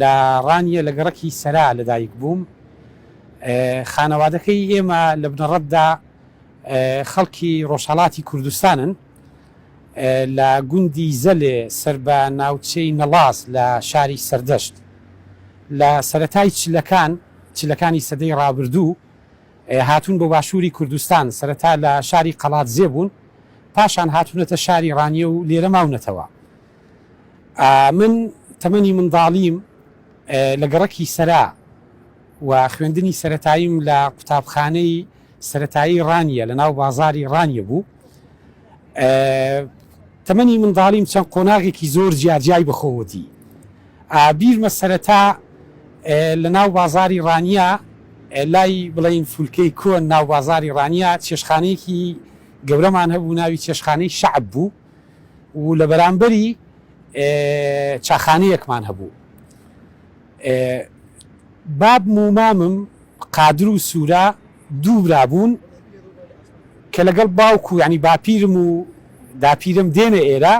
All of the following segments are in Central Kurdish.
لە ڕانیە لە گەڕەکی سەرا لەدایک بووم، خانەوادەکەی ئێمە لە بنەڕەتدا خەڵکی ڕۆژهەڵاتی کوردستانن، لە گوندی زەلێ سەر بە ناوچەی نەڵاس لە شاری سەردەشت. لە سەرەتای چلەکان، چلەکانی سەدەی ڕابردوو، هاتوون بۆ باشووری کوردستان، سەرەتا لە شاری قەڵادزێ بوون، پاشان هاتوونەتە شاری ڕانیە و لێرە ماونەتەوە. من تەمەنی منداڵیم لە گەڕەکی سەرا و خوێندنی سەرەتاییم لە قوتابخانەی سەرەتایی ڕانیە لە ناو بازاری ڕانیە بوو تەمەنی منداڵیم چەند قۆناغێکی زۆر جیاجیای بخۆوەتی ئابیرمە سەرەتا لە ناو بازاری ڕانیە لای بڵین فولکەی کۆن ناو بازاری ڕانیە چێشخانەیەکی گەورەمان هەبوو ناوی چێشخانەی شعب بوو و لە بەرامبەری چاخانەیەکمان هەبوو بابم و مامم قادر و سوورە دوو برا بوون کە لەگەڵ باوک و ینی باپیرم و داپیرم دێنە ئێرە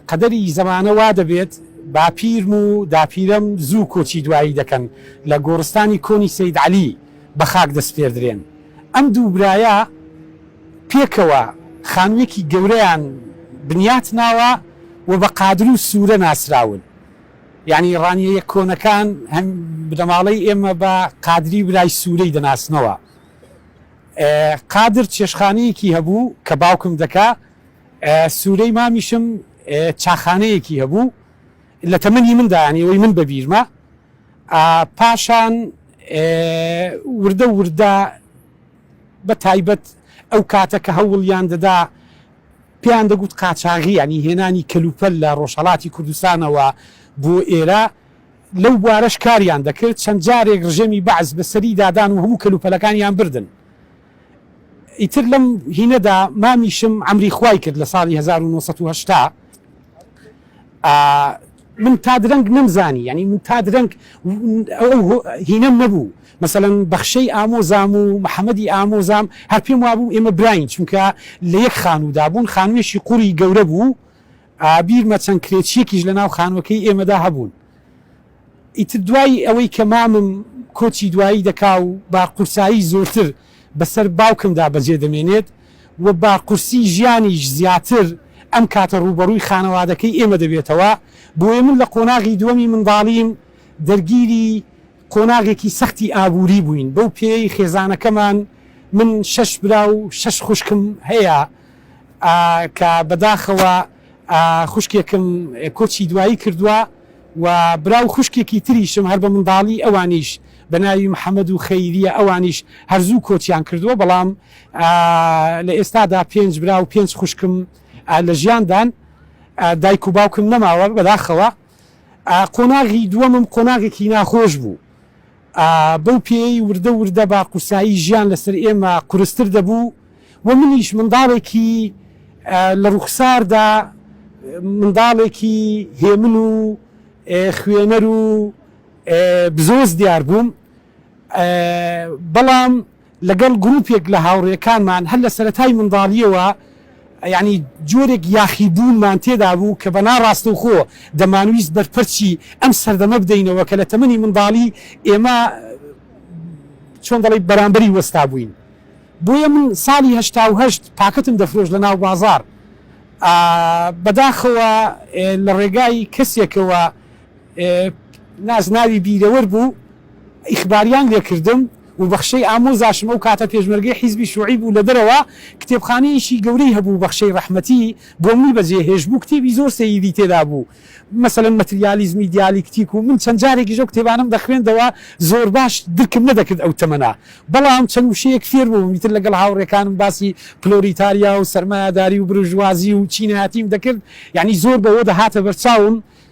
قەدەری زەمانە وا دەبێت باپیرم و داپیرم زوو کۆچی دوایی دەکەن لە گۆڕستانی کۆنی سید علی بە خاک دەستپێردرێن ئەم دوو برایە پێکەوە خانوویەکی گەورەیان بنیات ناوە و بە قادر و سوورە ناسراون. یانی ڕانیەیە کۆنەکان هەم بنەماڵەی ئێمە بە قادری برای سوورەی دەناسنەوە. قادر چێشتخانەیەکی هەبوو کە باوکم دەکا. سوورەی مامیشم چاخانەیەکی هەبوو. لە تەمەنی مندا یانی ئەوەی من بە بیرمە. پاشان وردە وردە بە تایبەت ئەو کاتە کە هەوڵیان دەدا پێیان دەگوت قاچاغی یانی هێنانی کەلوپەل لە ڕۆژهەڵاتی کوردستانەوە بۆ ئێرە لەو بوارەش کاریان دەکرد چەند جارێک ڕژێمی بەعس بە سەری دادان و هەموو کەلوپەلەکانیان بردن ئیتر لەم هینەدا مامیشم عەمری خوای کرد لە ساڵی هەزار و نۆ سەد و هەشتا من تا درەنگ نەمزانی یانی من تا درەنگ ئەو هینەم نەبوو مەسەلەن بەخشەی ئامۆزام و محەمەدی ئامۆزام هەر پێم وابوو ئێمە براین چونکە لە یەک خانوودا بوون خانوویەکی قوڕی گەورە بوو بیرمە چەند کرێچیەکیش لە ناو خانووەکەی ئێمەدا هەبوون ئیتر دوای ئەوەی کە مامم کۆچی دوایی دەکا و با قورسایی زۆرتر بەسەر باوکمدا بەجێ دەمێنێت و بە قورسی ژیانیش زیاتر ئەم کاتە ڕووبەڕووی خانەوادەکەی ئێمە دەبێتەوە، بۆیە من لە قۆناغی دووەمی منداڵیم دەرگیری قۆناغێکی سەختی ئابووری بووین، بەو پێیەی خێزانەکەمان من شەش برا و شەش خوشکم هەیە کە بەداخەوە خوشکێکم کۆچی دوایی کردووە و برا و خوشکێکی تریشم هەر بە منداڵی ئەوانیش بە ناوی محەمەد و خەیریە ئەوانیش هەر زوو کۆچیان کردووە بەڵام لە ئێستادا پێنج برا و پێنج خوشکم لە ژیاندان دایک و باوکم نەماوە بەداخەوە قۆناغی دووەمم قۆناغێکی ناخۆش بوو بەو پێیەی وردە وردە بە قورسایی ژیان لەسەر ئێمە قورستر دەبوو و منیش منداڵێکی لە ڕووخساردا منداڵێکی هێمن و خوێنەر و بزۆز دیار بووم بەڵام لەگەڵ گروپێک لە هاوڕێکانمان هەر لە سەرەتای منداڵییەوە یانی جۆرێک یاخیبوونمان تێدا بوو کە بە ناڕاستەوخۆ دەمانویست بەرپەرچی ئەم سەردەمە بدەینەوە کە لە تەمەنی منداڵیی ئێمە چۆن دەڵێی بەرامبەری وەستابووین. بۆیە من ساڵی هەشتا و هەشت پاکەتم دەفرۆشت لە ناو بازاڕ. بەداخەوە لە ڕێگای کەسێکەوە نازناوی بیرەوەر بوو، ئیخباریان لێ کردم و بەخشەی ئامۆزاشم ئەو کاتە پێشمەرگەی حیزبی شوعی بوو لە دەرەوە کتێبخانەیەکی گەورەی هەبوو بەخشەی رەحمەتی بۆ منی بەجێ هێشت بوو کتێبی زۆر سەیری تێدا بوو مەسەلەن مەتریالیزمی دیالیکتیک و من چەند جارێکیش ئەو کتێبانەم دەخوێندەوە زۆر باش درکم نەدەکرد ئەو تەمەنە بەڵام چەند وشەیەک فێر بووم ئیتر لەگەڵ هاوڕێکانم باسی پلۆریتاریا و سەرمایەداری و برژوازی و چینایەتیم دەکرد یانی زۆر بەوە دەهاتە بەرچاوم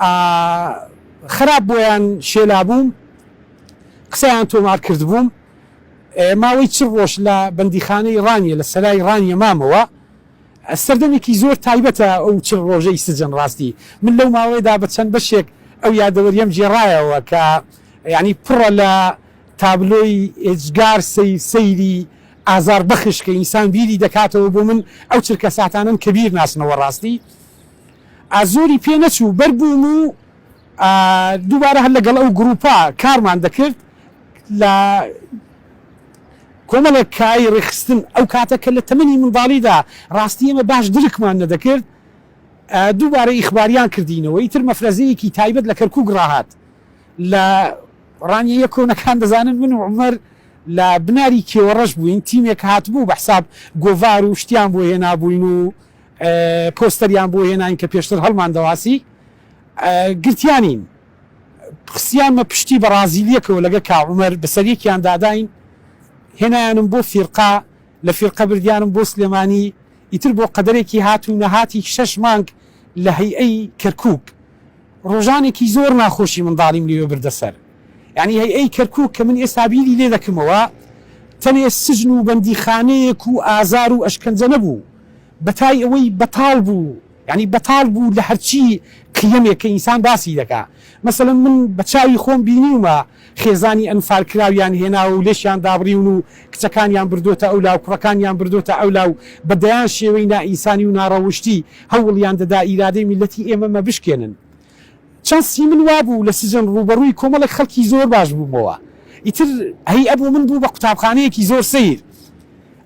ئا خراپ بۆیان شێلابووم قسەیان تۆمار کردبووم ئێ ماوەی چل ڕۆژ لە بەندیخانەی ڕانیە لە سەرای ڕانیە مامەوە ئە سەردەمێکی زۆر تایبەتە ئەو چل ڕۆژەی سجن ڕاستی من لەو ماوەیەدا بە چەند بەشێک ئەو یادەوەریەم گێڕایەوە کە یانی پڕە لە تابلۆی ئێجگار سەی سەیری ئازار بەخش کە ئینسان بیری دەکاتەوە بۆ من ئەو چرکە ساتانەن کە بیر ناچنەوە ڕاستی. زۆری پێ نەچوو بەر بووم و دووبارە هەر لەگەڵ ئەو گرووپە کارمان دەکرد لە کۆمەڵێک کای ڕێکخستن ئەو کاتە کە لە تەمەنی منداڵیدا ڕاستی ئێمە باش درکمان نەدەکرد دووبارە ئیخباریان کردینەوە ئیتر مەفرەزەیەکی تایبەت لە کەرکووک ڕاهات لە ڕانیە کۆنەکان دەزانن من و عمر لە بناری کێوەڕەش بووین تیمێک هاتبوو بە حساب گۆڤار و شتیان بۆ هێنابووین و پۆستەریان بۆ هێناین کە پێشتر هەڵماندەواسی گرتیانین خستیانمە پشتی بەڕازیلیەکەوە لەگە کا عومەر بەسەر یەکیان داداین هێنایانم بۆ فیرقە لە فیرقە بردیانم بۆ سلێمانی ئیتر بۆ قەدەرێکی هات و نەهاتی شەش مانگ لە هەیئەی کەرکوک ڕۆژانێکی زۆر ناخۆشی منداڵیم لەوێ بردە سەر یانی هەیئەی کەرکوک کە من ئێستا بیری لێ دەکەمەوە تەنێ سجن و بەندیخانەیەک و ئازار و ئەشکەنجە نەبوو بەتای ئەوەی بەتاڵ بوو یانی بەتاڵ بوو لە هەرچی قیەمێک کە ئینسان باسی دەکا مەسەلەن من بە چاوی خۆم بینیومە خێزانی ئەنفال کراویان هێناوە و لێشیان دابڕیون و کچەکانیان بردۆتە ئەولا و کوڕەکانیان بردۆتە ئەولا و بە دەیان شێوەی نائینسانی و ناڕەوشتی هەوڵیان دەدا ئیرادەی میللەتی ئێمەمە بشکێنن چانسی من وابوو لە سجن ڕووبەڕووی کۆمەڵێک خەڵکی زۆر باش بوومەوە، ئیتر هەی ئەبوو من بوو بە قوتابخانەیەکی زۆر سەیر.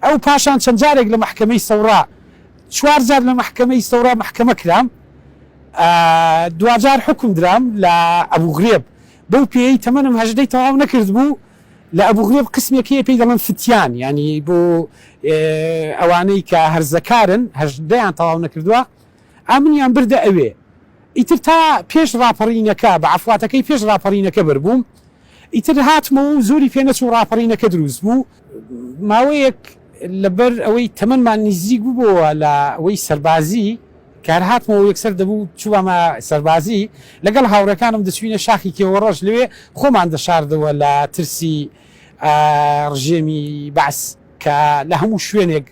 ئەو پاشان چەند جارێک لە مەحکەمەی سەوڕا، چوار جار لە مەحکەمەی سەوڕا مەحکەمە کرام، دواجار حوکم درام لە ئەبوو غرێب، بەو پێیەی تەمەنم هەژدەی تەواو نەکردبوو، لە ئەبوو غرێب قسمێک هەیە پێی دەڵێن فتیان، یانی بۆ ئەوانەی کە هەرزەکارن هەژدەیان تەواو نەکردووە، ئا منیان بردە ئەوێ ئیتر تا پێش ڕاپەڕینەکە بە عەفواتەکەی پێش ڕاپەڕینەکە بەربووم ئیتر هاتمەوە و زۆری پێ نەچوو ڕاپەڕینەکە دروست بوو ماوەیەک لەبەر ئەوەی تەمەنمان نیزیک بووەوە لە وەی سەربازی کار هاتمەوە یەکسەر دەبوو چوومە سەربازی لەگەڵ هاوڕەکانم دەچوینە شاخی کێوەڕەش لەوێ خۆمان دەشاردەوە لە ترسی ڕژێمی بەعس کە لە هەموو شوێنێک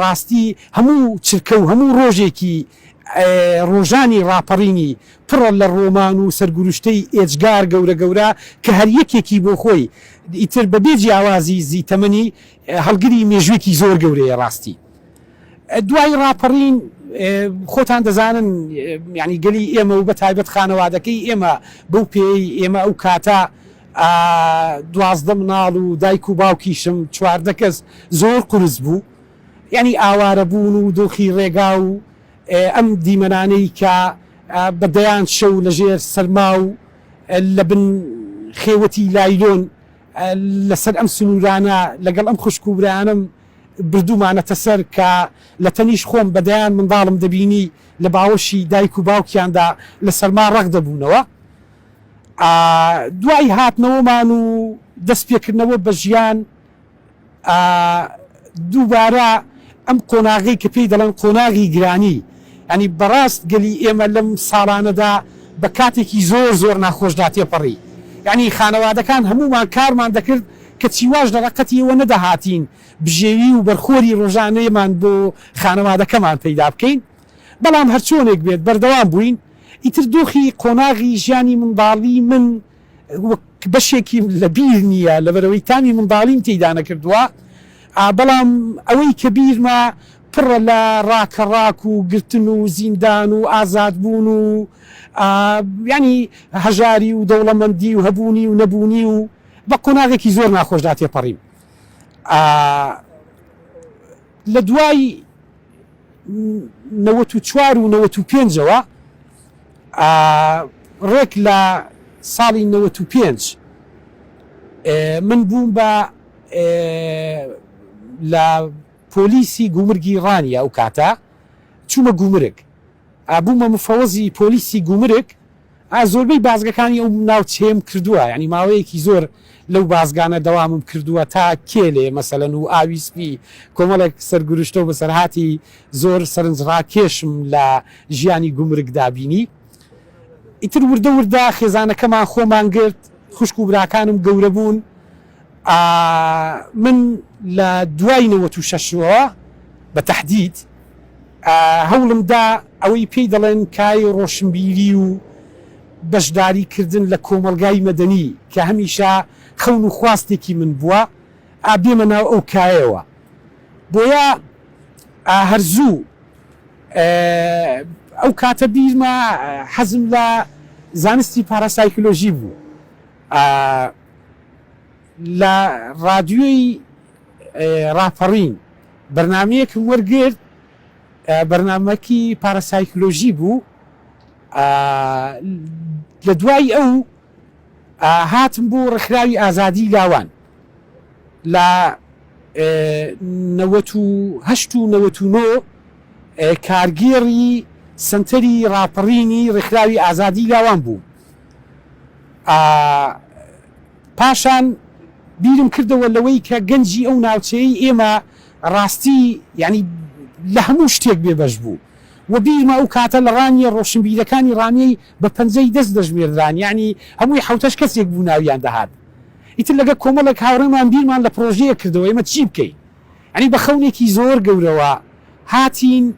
ڕاستی هەموو چرکە و هەموو ڕۆژێکی ڕۆژانی ڕاپەڕینی پڕە لە ڕۆمان و سەرگوروشتەی ئێجگار گەورە گەورە کە هەر یەکێکی بۆ خۆی ئیتر بە بێ جیاوازی زی تەمەنی هەڵگری مێژووێکی زۆر گەورەیە ڕاستی دوای ڕاپەڕین خۆتان دەزانن یانی گەلی ئێمە و بە تایبەت خانەوادەکەی ئێمە بەو پێی ئێمە ئەو کاتە دوازدە مناڵ و دایک و باوکیشم چواردە کەس زۆر قورس بوو یانی ئاوارە بوون و دۆخی ڕێگا و ئەم دیمەنانەی کە بە دەیان شەو لە ژێر سەرما و لە بن خێوەتی لایلۆن لە سەر ئەم سنوورانە لەگەڵ ئەم خوشک و برایانەم بردوومانەتە سەر کە لە تەنیشت خۆم بە دەیان منداڵم دەبینی لە باوەشی دایک و باوکیاندا لە سەرما ڕەق دەبوونەوە. دوای هاتنەوەمان و دەست پێکردنەوە بە ژیان دووبارە ئەم قۆناغەی کە پێی دەڵێن قۆناغی گرانی ینی بەڕاست گەلی ئێمە لەم ساڵانەدا بە کاتێکی زۆر زۆر ناخۆشدا تێپەڕی ینی خانەوادەکان هەموومان کارمان دەکرد کە چیواش لە ڕەقەتی ئەوە نەدەهاتین بژێوی و بەرخۆری ڕۆژانەیەمان بۆ خانەوادەکەمان پەیدا بکەین بەڵام هەرچۆنێک بێت بەردەوام بووین، ئیتر دۆخی قۆناغی ژیانی منداڵی من وەک بەشێکی لە بیر نییە، لەبەرئەوەی تامی منداڵیم تێیدا نەکردووە، بەڵام ئەوەی کە بیرمە پڕە لە ڕاکەڕاک و گرتن و زیندان و ئازادبوون و یانی هەژاری و دەوڵەمەندی و هەبوونی و نەبوونی و بە قۆناغێکی زۆر ناخۆشدا تێپەڕیم لە دوای نەوەت و چوار و نەوەت و پێنج ەوە ڕێک لە ساڵی نەوەت و پێنج من بووم بە لە پۆلیسی گومرگی ڕانیە ئەو کاتە چوومە گومرگ بوومە مفەوەزی پۆلیسی گومرگ ئا زۆربەی بازگەکانی ئەو ناوچەیەم کردوە یانی ماوەیەکی زۆر لەو بازگانە دەوامم کردوە تا کێلێ مەسەلەن و ئاوی سپی کۆمەڵێک سەرگورشتەو بەسەرهاتی زۆر سەرنجڕاکێشم لە ژیانی گومرگدا بینی ئیتر وردە وردە خێزانەکەمان خۆمان گرت خوشک و براکانم گەورەبوون ئا من لە دوای نەوەت و شەش ەوە بە تەحدید هەوڵم دا ئەوەی پێی دەڵێن کای ڕۆشنبیری و بەشداری کردن لە کۆمەڵگای مەدەنی کە هەمیشە خەون و خواستێکی من بووە ئا بێمە ناو ئەو کایەوە بۆیە ئا هەر زوو ئەو کاتە بیرمە حەزم لە زانستی پاراسایکلۆژی بوو ئا لە ڕادیۆی ڕاپەڕین بەرنامەیەکم وەرگرت بەرنامەکی پاراسایکلۆژی بوو لە دوای ئەو هاتم بۆ ڕێکخراوی ئازادی لاوان لە نەوەت و هەشت و نەوەت و نۆ کارگێڕی سەنتەری ڕاپەڕینی ڕێکخراوی ئازادی لاوان بوو ئا پاشان بیرم کردەوە لەوەی کە گەنجی ئەو ناوچەیەی ئێمە ڕاستی یانی لە هەموو شتێک بێ بەش بوو وە بیرمە ئەو کاتە لە ڕانیە ڕۆشنبیرەکانی ڕانیەی بە پەنجەی دەست دەژمێردران یانی هەمووی حەوتەش کەسێک بوو ناویان دەهات ئیتر لەگە کۆمەڵێک هاوڕێمان بیرمان لە پڕۆژەیەک کردەوە ئێمە چی بکەین یانی بە خەونێکی زۆر گەورەوە هاتین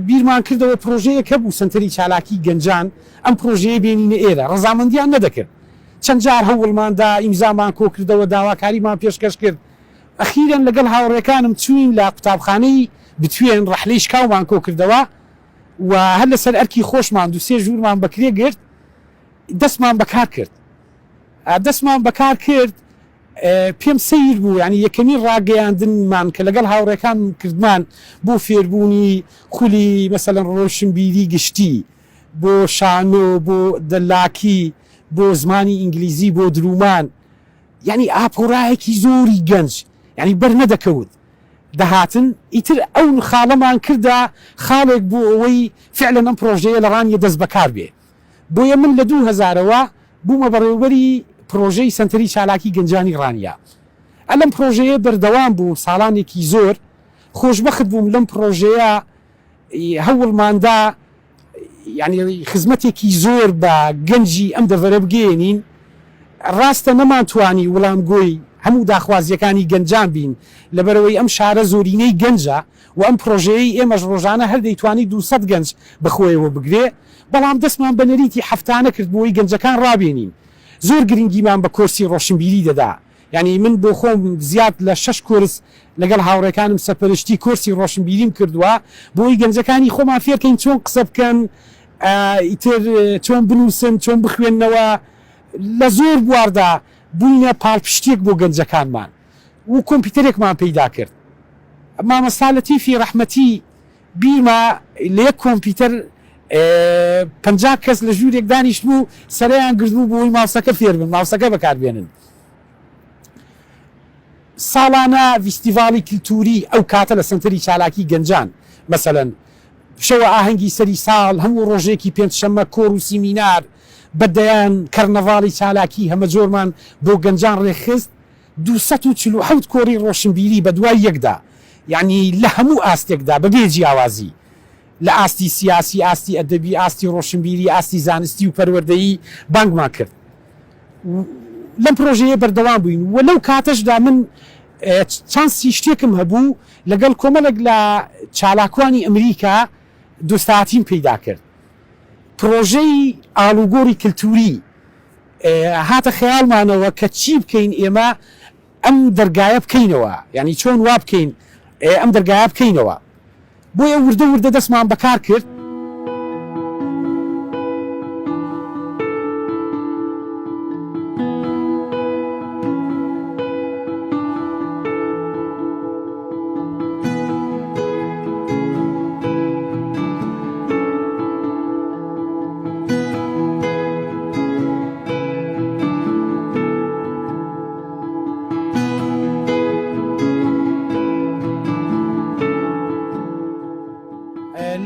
بیرمان کردەوە پرۆژەیەک هەبوو سەنتەری چالاکی گەنجان ئەم پرۆژەیە بێنینە ئێرە ڕەزامەندیان نەدەکرد چەند جار هەوڵمان دا ئیمزامان کۆکردەوە داواکاریمان پێشکەش کرد ئەخیرەن لەگەڵ هاوڕێکانم چووین لە قوتابخانەی بتوێن ڕەحلەی شکاومان کۆکردەوە و هەر لەسەر ئەرکی خۆشمان دوو سێ ژوورمان بەکرێ گرت دەستمان بەکار کرد دەستمان بەکار کرد پێم سەیر بوو یانی یەکەمین ڕاگەیاندن مان کە لەگەڵ هاوڕێکانم کردمان بۆ فێربوونی خولی مەسەلەن ڕۆشنبیری گشتی بۆ شانۆ بۆ دەلاکی بۆ زمانی ئینگلیزی بۆ درومان یانی ئاپۆرایەکی زۆری گەنج یانی بەر نەدەکەوت دەهاتن ئیتر ئەو خاڵەمان کردە خاڵێک بۆ ئەوەی فعلەن ئەم پرۆژەیە لە ڕانیە دەست بەکار بێ. بۆیە من لە دوو هەزار ەوە بوومە بەڕێوبەری پرۆژەی سەنتەری چالاکی گەنجانی ڕانیە ە لەم پرۆژەیە بەردەوام بووم ساڵانێکی زۆر خۆشبەخت بووم لەم پرۆژەیە هەوڵماندا یانی خزمەتێکی زۆر بە گەنجی ئەم دەڤەرە بگەیەنین ڕاستە نەمانتوانی وڵامگۆی هەموو داخوازیەکانی گەنجان بین لەبەرئەوەی ئەم شارە زۆرینەی گەنجە و ئەم پڕۆژەیەی ئێمەش ڕۆژانە هەر دەیتوانی دوو سەد گەنج بەخۆیەوە بگرێ، بەڵام دەستمان بە نەریتی هەفتانە کرد بۆی گەنجەکان ڕابێنین. زۆر گرنگیمان بە کۆرسی ڕۆشنبیری دەدا، یانی من بۆ خۆم زیاد لە شەش کۆرس لەگەڵ هاوڕێکانم سەرپەرشتی کۆرسی ڕۆشنبیریم کردوە بۆی گەنجەکانی خۆمان فێر کەین چۆن قسە بکەن، ئیتر چۆن بنووسن، چۆن بخوێننەوە، لە زۆر بواردا بووینە پاڵپشتیەک بۆ گەنجەکانمان. و کۆمپیوتەرێکمان پەیدا کرد مامۆستا لەتیفی ڕەحمەتی بیمە لە یەک کۆمپیوتەر پەنجا کەس لە ژوورێک دانیشتبوو و سەرەیان گرتبوو بۆی ماوسەکە فێربن ماوسەکە بەکاربێنن ساڵانە ڤیستیڤاڵی کلتوری ئەو کاتە لە سەنتەری چالاکی گەنجان مەسەلەن شەوە ئاهەنگی سەری ساڵ هەموو ڕۆژێکی پێنج شەمە کۆر و سیمینار بە دەیان کەرنەڤاڵی چالاکی هەمەجۆرمان بۆ گەنجان ڕێکخست دوو سەد و چل و حەوت کۆڕی ڕۆشنبیری بەدوای یەکدا، یەعنی لە هەموو ئاستێکدا بە بێ جیاوازی، لە ئاستی سیاسی، ئاستی ئەدەبی، ئاستی ڕۆشنبیری، ئاستی زانستی و پەروەردەیی بانگمان کرد و لەم پرۆژەیە بەردەوام بووین و لەو کاتەشدا من چانسی شتێکم هەبوو لەگەڵ کۆمەڵێک لە چالاکوانی ئەمریکا دۆستایەتیم پەیدا کرد پرۆژەی ئاڵوگۆڕی کلتووری هاتە خەیاڵمانەوە کە چی بکەین ئێمە ئەم دەرگایە بکەینەوە یانی چۆن وا بکەین ئەم دەرگایە بکەینەوە بۆیە وردە وردە دەستمان بەکار کرد.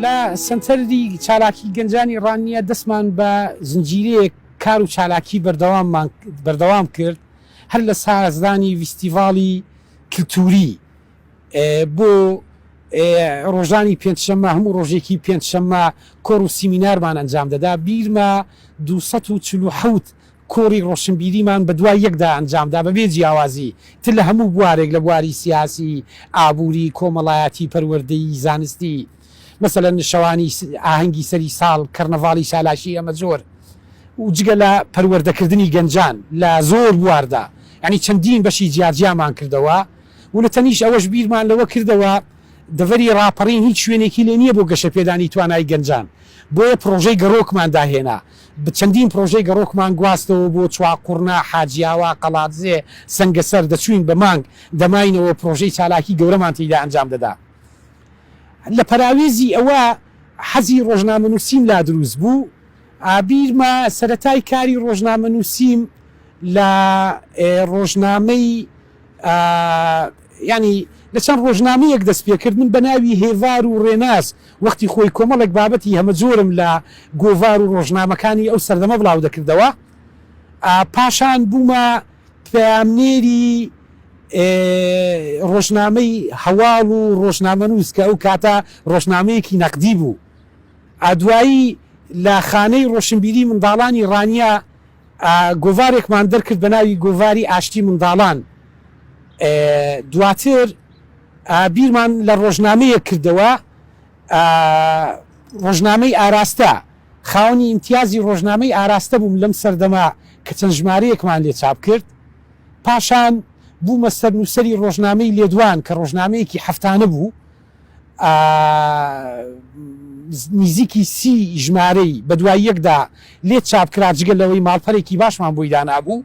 لە سەنتەری چالاکی گەنجانی ڕانیە دەستمان بە زنجیرەیەک کار و چالاکی بەردەواممان بەردەوام کرد هەر لە سازدانی ویستیڤاڵی کلتوری، بۆ ڕۆژانی پێنج شەممە هەموو ڕۆژێکی پێنج شەممە کۆڕ و سیمینارمان ئەنجام دەدا، بیرمە دوو سەد و چل و حەوت کۆڕی ڕۆشنبیریمان بەدوای یەکدا ئەنجامدا بەبێ جیاوازی تر لە هەموو بوارێک لە بواری سیاسی، ئابووری، کۆمەڵایەتی، پەروەردەیی، زانستی. مەسەلەن شەوانی ئاهەنگی سەری ساڵ، کەرنەڤاڵی چالاشی ئەمە جۆر و جگە لە پەروەردەکردنی گەنجان لە زۆر بواردا یانی چەندین بەشی جیاجیامان کردەوە و لە تەنیشت ئەوەش بیرمان لەوە کردەوە دەڤەری ڕاپەڕین هیچ شوێنێکی لێ نییە بۆ گەشەپێدانی توانای گەنجان بۆیە پڕۆژەی گەڕۆکمان داهێنا چەندین پڕۆژەی گەڕۆکمان گواستەوە بۆ چواقوڕنا، حاجیاوا، قەڵادزێ، سەنگەسەر دەچووین بە مانگ دەماینەوە پڕۆژەی چالاکی گەورەمان تیدا ئەنجام دەدا. لە پەراوێزی ئەوە حەزی ڕۆژنامەنووسیم لا دروست بوو. بیرمە سەرەتای کاری ڕۆژنامەنووسیم لە ڕۆژنامەی یانی لە چەند ڕۆژنامەیەک دەست پێ کرد. من بە ناوی هێڤار و ڕێناس وەختی خۆی کۆمەڵێک بابەتی هەمەجۆرم لە گۆڤار و ڕۆژنامەکانی ئەو سەردەمە بڵاو دەکردەوە. پاشان بوومە پەیامنێری ڕۆژنامەی هەواڵ و ڕۆژنامەنووس کە ئەو کاتە ڕۆژنامەیەکی نەقدی بوو ئا دوایی لە خانەی ڕۆشنبیری منداڵانی ڕانیە ئا گۆڤارێکمان دەرکرد بە ناوی گۆڤاری ئاشتی منداڵان ئێ دواتر ئا بیرمان لە ڕۆژنامەیەک کردەوە ئا ڕۆژنامەی ئاراستە. خاوەنی ئیمتیازی ڕۆژنامەی ئاراستە بووم لەم سەردەمە کە چەند ژمارەیەکمان لێ چاپ کرد. پاشان بوومە سەرنووسەری ڕۆژنامەی لێدوان کە ڕۆژنامەیەکی هەفتانە بوو. نیزیکی سی ژمارەی بە دوای یەکدا لێ چاپ کرا، جگە لەوەی ماڵپەرێکی باشمان بۆی دانابوو.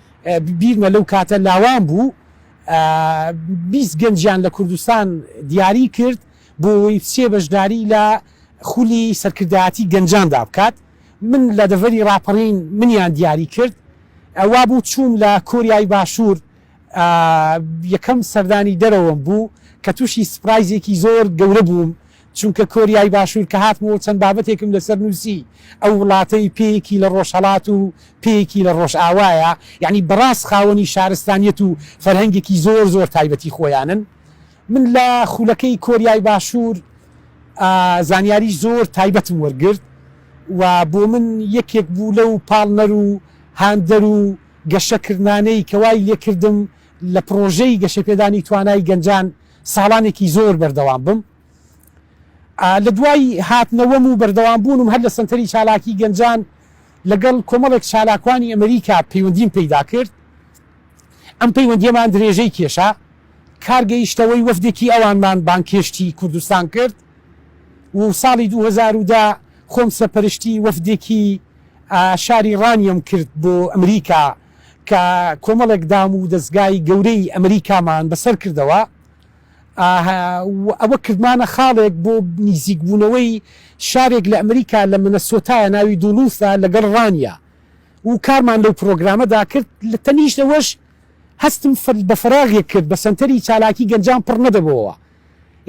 بیرمە لەو کاتە لاوان بوو بیست گەنجیان لە کوردستان دیاری کرد بۆ ئەوەی بچێ بەشداری لە خولی سەرکردایەتی گەنجاندا بکات من لە دەڤەری ڕاپەڕین منیان دیاری کرد وا بوو چووم لە کۆریای باشوور یەکەم سەردانی دەرەوەم بوو کە تووشی سپرایزێکی زۆر گەورە بووم چونکە کۆریای باشوور کە هاتمەوە چەند بابەتێکم لەسەر نووسی، ئەو وڵاتەی پێیەکی لە ڕۆژهەڵات و پێیەکی لە ڕۆژئاوایە، یەعنی بەڕاست خاوەنی شارستانیەت و فەرهەنگێکی زۆر زۆر تایبەتی خۆیانن. من لە خولەکەی کۆریای باشوور زانیاری زۆر تایبەتم وەرگرت و بۆ من یەکێک بوو لەو پاڵنەر و هاندەر و گەشەکردنانەی کە وای لێکردم لە پڕۆژەی گەشەپێدانی توانای گەنجان ساڵانێکی زۆر بەردەوام بم لە دوای هاتنەوەم و بەردەوام بوونم هەر لە سەنتەری چالاکی گەنجان لەگەڵ کۆمەڵێک چالاکوانی ئەمریکا پەیوەندیم پەیدا کرد ئەم پەیوەندیەمان درێژەی کێشا کار گەیشتەوەی وەفدێکی ئەوانمان بانکێشتی کوردستان کرد و ساڵی 2010 خۆم سەپەرشتی وەفدێکی شاری ڕانیەم کرد بۆ ئەمریکا کە کۆمەڵێک دام و دەزگای گەورەی ئەمریکامان بەسەر کردەوە و ئەوە کردمانە خاڵێک بۆ نیزیکبوونەوەی شارێک لە ئەمریکا لە منەسۆتایە ناوی دوڵوثە لەگەڵ ڕانیا و کارمان لەو پرۆگرامەدا کرد لە تەنیشت ئەوەش هەستم بە فەراغێک کرد بە سەنتەری چالاکی گەنجان پڕ نەدەبۆوە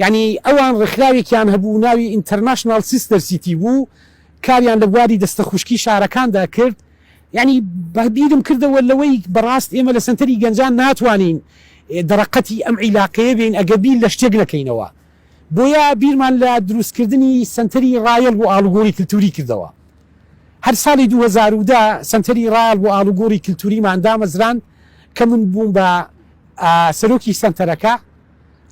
یەعنی ئەوان ڕێکخراوێکیان هەبوو ناوی ئینتەرناشناڵ سیستەر سیتی بوو کاریان لە بواری دەستە خوشکی شارەکاندا کرد یەعنی بە بیرم کردەوە لەوەی بەڕاست ئێمە لە سەنتەری گەنجان ناتوانین دەرەقەتی ئەم عیلاقەیە بێین ئەگەر بیر لە شتێک نەکەینەوە بۆیە بیرمان لە دروست کردنی سەنتەری ڕایەڵ بۆ ئاڵوگۆڕی کلتوری کردەوە هەر ساڵی دوو هەزار و دە سەنتەری ڕایەڵ بۆ ئاڵوگۆڕی کلتوریمان دامەزراند کە من بووم بە سەرۆکی سەنتەرەکە.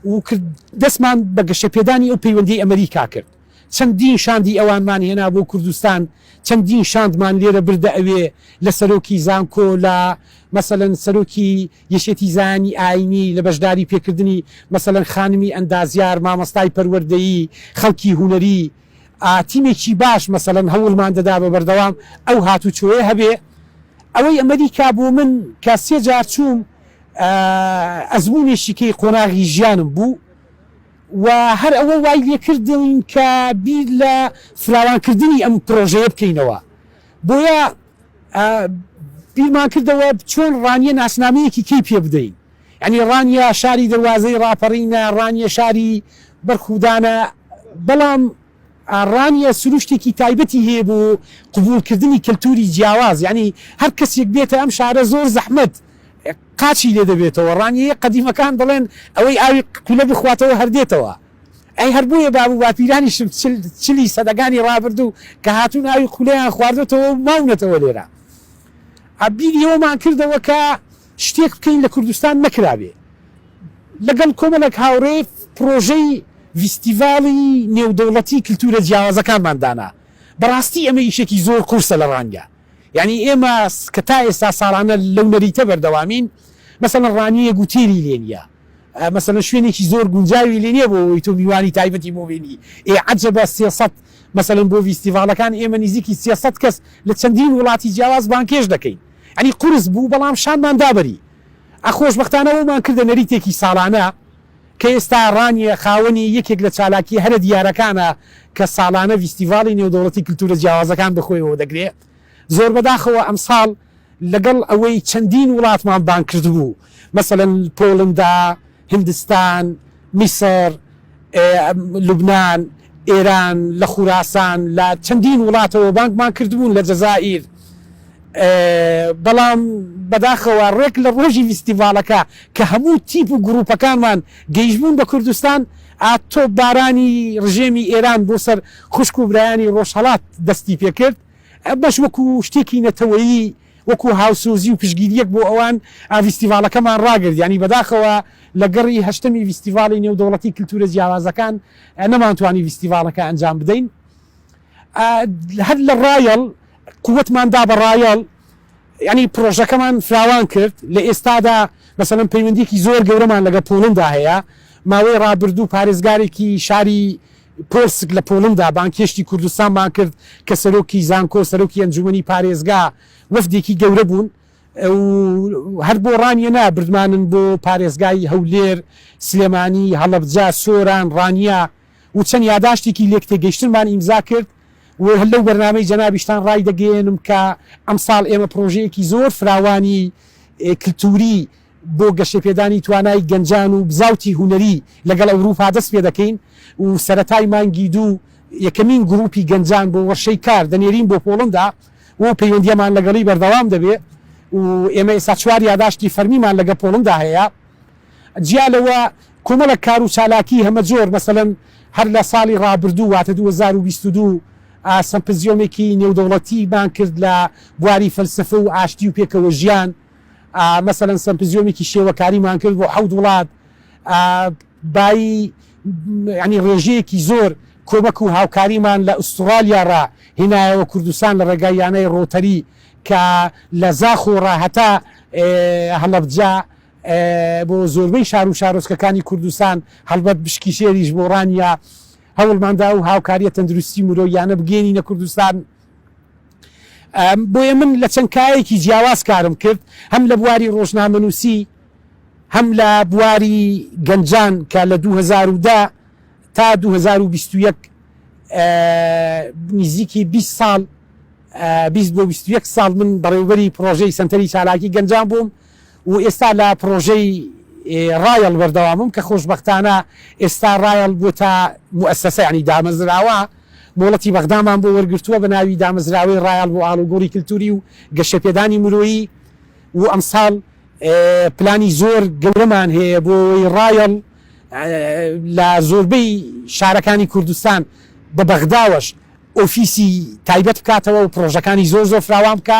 و کرد، دەستمان بە گەشەپێدانی ئەو پەیوەندیەی ئەمەریکا کرد، چەندین شاندی ئەوانمان هێنا بۆ کوردستان، چەندین شاندمان لێرە بردە ئەوێ، لە سەرۆکی زانکۆ، لە مەسەلەن سەرۆکی یەکێتی زایانی ئاینی، لە بەشداری پێکردنی مەسەلەن خانمی ئەندازیار، مامۆستای پەروەردەیی، خەڵکی هونەری، تیمێکی باش مەسەلەن هەوڵمان دەدا بە بەردەوام ئەو هاتوچۆیە هەبێ، ئەوەی ئەمەریکا بۆ من کە سێ جار چووم ئەزموونێکی کەی قۆناغی ژیانم بوو و هەر ئەوە وای لێ کردم کە بیر لە فراوانکردنی ئەم پرۆژەیە بکەینەوە، بۆیە بیرمان کردەوە چۆن ڕانیە ناسنامەیەکی کەی پێ بدەین، یانی ڕانیە شاری دەروازەی ڕاپەڕینە، ڕانیە شاری بەرخودانە، بەڵام ڕانیە سروشتێکی تایبەتی هەیە بۆ قبوڵکردنی کەلتوری جیاواز یانی هەر کەسیک بێتە ئەم شارە زۆر زەحمەت قاچی لێ دەبێتەوە ڕانیەیە قەدیمەکان دەڵێن ئەوەی ئاوی کولە بخواتەوە هەر دێتەوە ئەی هەر بۆیە باب و باپیرانیشم چل چلی سەدەکانی ڕابردوو کە هاتوون ئاوی کولەیان خواردۆتەوە و ماونەتەوە لێرە بیری ئەوەمان کردەوە کە شتێک بکەین لە کوردستان نەکرابێ لەگەڵ کۆمەڵێک هاوڕێ پڕۆژەی ڤیستیڤاڵی نێودەوڵەتی کلتوورە جیاوازەکانمان دانا بەڕاستی ئەمە ئیشێکی زۆر قورسە لە ڕانگە یانی ئێمە کە تا ئێستا ساڵانە لەو نەریتە بەردەوامین مەسەڵەن ڕانویەک وتێلی لێ نیە مەسەلەن شوێنێکی زۆر گونجاوی لێ نیە بۆ ئەوەی تۆ میوانی تایبەتی بۆ بێنی ئێ عەجەبە سێ سەد مەسەلەن بۆ ڤیستیڤاڵەکان ئێمە نیزیکی سێ سەد کەس لە چەندین وڵاتی جیاواز بانگهێشت دەکەین یانی قورس بوو بەڵام شانمان دا بەری. ە خۆشبەختانە وەمان کردە نەریتێکی ساڵانە کە ئێستا ڕانیە خاوەنی یەکێک لە چالاکیە هەرە دیارەکانە کە ساڵانە ڤیستیڤاڵی نێودەوڵەتی کلتورە جیاوازەکان بەخۆیەوە دەگرێ زۆربەداخەوە ئەمساڵ لەگەڵ ئەوەی چەندین وڵاتمان بانگ کردبوو مەسەلەن پۆڵندا هندستان، میسر، لوبنان، ئێران، لە خوراسان، لە چەندین وڵاتەوە بانگمان کردبوون، لە جەزائیر، بەڵام بەداخەوە ڕێک لە ڕۆژی ڤیستیڤاڵەکە کە هەموو تیپ و گرووپەکانمان گەیشتبوون بە کوردستان، تۆپبارانی ڕژێمی ئێران بۆ سەر خوشک و برایانی ڕۆژهەڵات دەستی پێکرد، ئەمەش وەکوو شتێکی نەتەوەیی وەکو هاوسۆزی و پشتگیرییەک بۆ ئەوان ڤیستیڤاڵەکەمان ڕاگرت، یانی بەداخەوە لە گەڕی هەشتەمی ڤیستیڤاڵی نێودەوڵەتی کلتوورە جیاوازەکان نەمانتوانی ڤیستیڤاڵەکە ئەنجام بدەین. هەر لە ڕایەڵ قوتمان دا بە ڕایەڵ، یانی پڕۆژەکەمان فراوان کرد، لە ئێستادا مەسەلەن پەیوەندییەکی زۆر گەورەمان لەگەڵ پۆڵندا هەیە، ماوەی ڕابردوو پارێزگارێکی شاری، پۆرسک لە پۆڵندا بانگهێشتی کوردستانمان کرد کە سەرۆکی زانکۆ، سەرۆکی ئەنجوومەنی پارێزگا، وەفدێکی گەورە بوون و هەر بۆ ڕانیەنا بردمانن بۆ پارێزگای هەولێر، سلێمانی، هەڵەبجە، سۆران، ڕانیە و چەند یاداشتێکی لێکتێگەیشتنمان ئیمزا کرد و لەو بەرنامەی جەنابیشتان ڕایدەگەیەنم کە ئەمساڵ ئێمە پڕۆژەیەکی زۆر فراوانی کلتووری بۆ گەشەپێدانی توانای گەنجان و بزاوتی هونەری لەگەڵ ئەوروپا دەست پێدەکەین و سەرەتای مانگی دوو یەکەمین گروپی گەنجان بۆ وەرشەی کار دەنێرین بۆ پۆڵندا و پەیوەندیەمان لەگەڵی بەردەوام دەبێ و ئێمە ئێستا چوار یاداشتی فەرمیمان لەگە پۆڵندا هەیە جیا لەوە کۆمەڵە کار و چالاکی هەمەجۆر مەسەلەن هەر لە ساڵی ڕابردوو واتە دوو هەزار و بیست و دوو سەمپزیۆمێکی نێودەوڵەتیمان کرد لە بواری فەلسەفە و ئاشتی و پێکەوەژیان مەسەلەن سەمپزیۆمێکی شێوەکاریمان کرد بۆ حەوت وڵات بایی ینی ڕێژەیەکی زۆر کۆمەک و هاوکاریمان لە ئوسترالیا ڕا هینایەوە کوردستان لە ڕێگای یانەی ڕۆتەری کە لە زاخۆ ڕا هەتا هەڵەبجە بۆ زۆربەی شار و شارۆچکەکانی کوردستان هەڵبەت بشکی شێریش بۆ ڕانیە هەوڵماندا و هاوکاریە تەندروستی مرۆیانە بگەێنینە کوردستان. بۆیە من لە چەند کایەکی جیاواز کارم کرد، هەم لە بواری ڕۆژنامەنووسی، هەم لە بواری گەنجان کە لە دوو هەزار و دە تا دوو هەزار و بیست و یەک نزیکی بیست ساڵ بیست بۆ بیست و یەک ساڵ من بەڕێوەبەری پڕۆژەی سەنتەری چالاکی گەنجان بووم. و ئێستا لە پڕۆژەی ڕایەڵ بەردەوامم کە خۆشبەختانە ئێستا ڕایەڵ بووتە موئەسەسە یانی دامەزراوە مۆڵەتی بەغدامان بۆ وەرگرتووە بە ناوی دامەزراوەی ڕایەڵ بۆ ئاڵوگۆڕی کلتووری و گەشەپێدانی مرۆیی و ئەمساڵ پلانی زۆر گەورەمان هەیە بۆ ئەوەی ڕایەڵ لە زۆربەی شارەکانی کوردستان بە بەغداوەش ئۆفیسی تایبەت بکاتەوە و پڕۆژەکانی زۆر زۆر فراوان بکا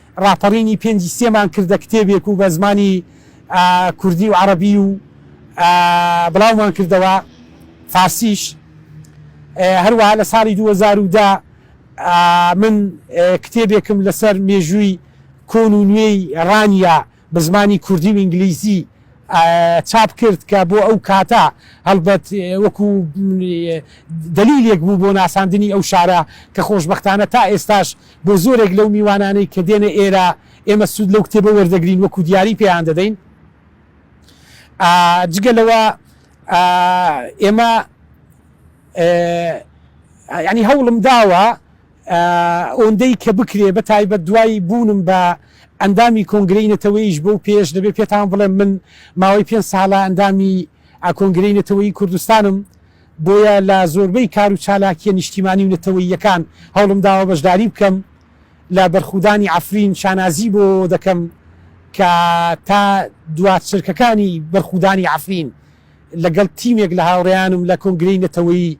ڕاپەڕینی پێنجی سێمان کردە کتێبێک و بە زمانی کوردی و عەڕەبی و بڵاومان کردەوە فارسیش هەروەها لە ساڵی دوو هەزار و دە من کتێبێکم لەسەر مێژووی کۆن و نوێی ڕانیە بە زمانی کوردی و ئینگلیزی چاپ کرد کە بۆ ئەو کاتە هەڵبەت وەکو دلیلێک بوو بۆ ناساندنی ئەو شارە کە خۆشببختانە تا ئێستاش بۆ زۆرێک لەو میوانانەی کە دێنە ئێرە ئێمە سوود لەو کتێبە وەردەگرین وەکو دیاری پێیان دەدەین جگە لەوە ئێمە ینی هەوڵم داوە ئۆندەی کە بکرێ بە تایبەت دوای بوونم بە ئەندامی کۆنگرەی نەتەوەیش بۆ پێش دەبێ پێتان بڵێم من ماوەی پێ ساڵە ئەندامی ئاکۆنگرەی نەتەوەی کوردستانم بۆیە لە زۆربەی کار و چالاکییە نیشتیمانی و نەتەوەییەکان هەوڵم داوە بەشداری بکەم، لە بەرخودانی عەفرین شانازی بۆ ئەوە دەکەم کە تا دوا چرکەکانی بەرخودانی عەفرین لەگەڵ تیمێک لە هاوڕێیانم لە کۆنگرەی نەتەوەیی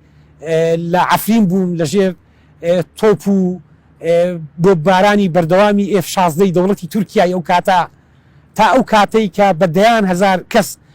لە عەفرین بووم لە ژێر تۆپ و بۆببارانی بەردەوامی ئێف شازدە ی دەوڵەتی تورکیای ئەو کاتە تا ئەو کاتەی کە بە دەیان هەزار کەس